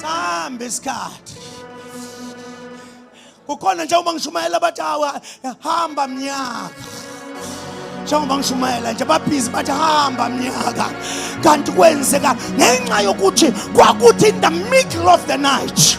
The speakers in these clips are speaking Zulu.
Sambe isikhathi. Kukhona nje uma ngishumayela bathi hawa hamba mnyaka. Njengoba ngishumayela nje babhizi bathi hamba mnyaka. Kanti kwenzeka ngenxa yokuthi kwakuthi in the middle of the night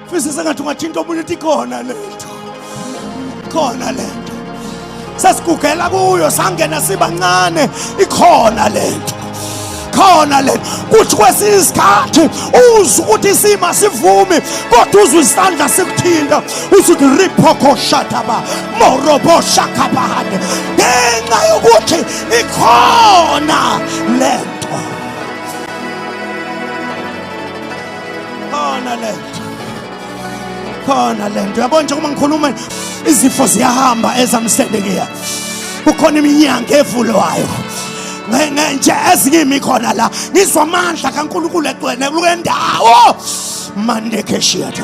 Fisa sengathi ungathinta omunye uthi khona lento khona lento sesigugela kuyo sangena sibancane ikhona lento khona le kuthi kwesinye isikhathi uzwe ukuthi isima sivumi kodwa uzwe isandla sikuthinta uthi uthi riphokoshataba moroboshakabahane ngenxa yokuthi ikhona le khona le nto khona le nto yabona nje uma ngikhuluma izifo ziyahamba ezamsendekiya kukhona iminyango evulwayo nje ezinye imi khona la ngizwa amandla kankulunkulu egcwele kule ndawo mandekeshiyatha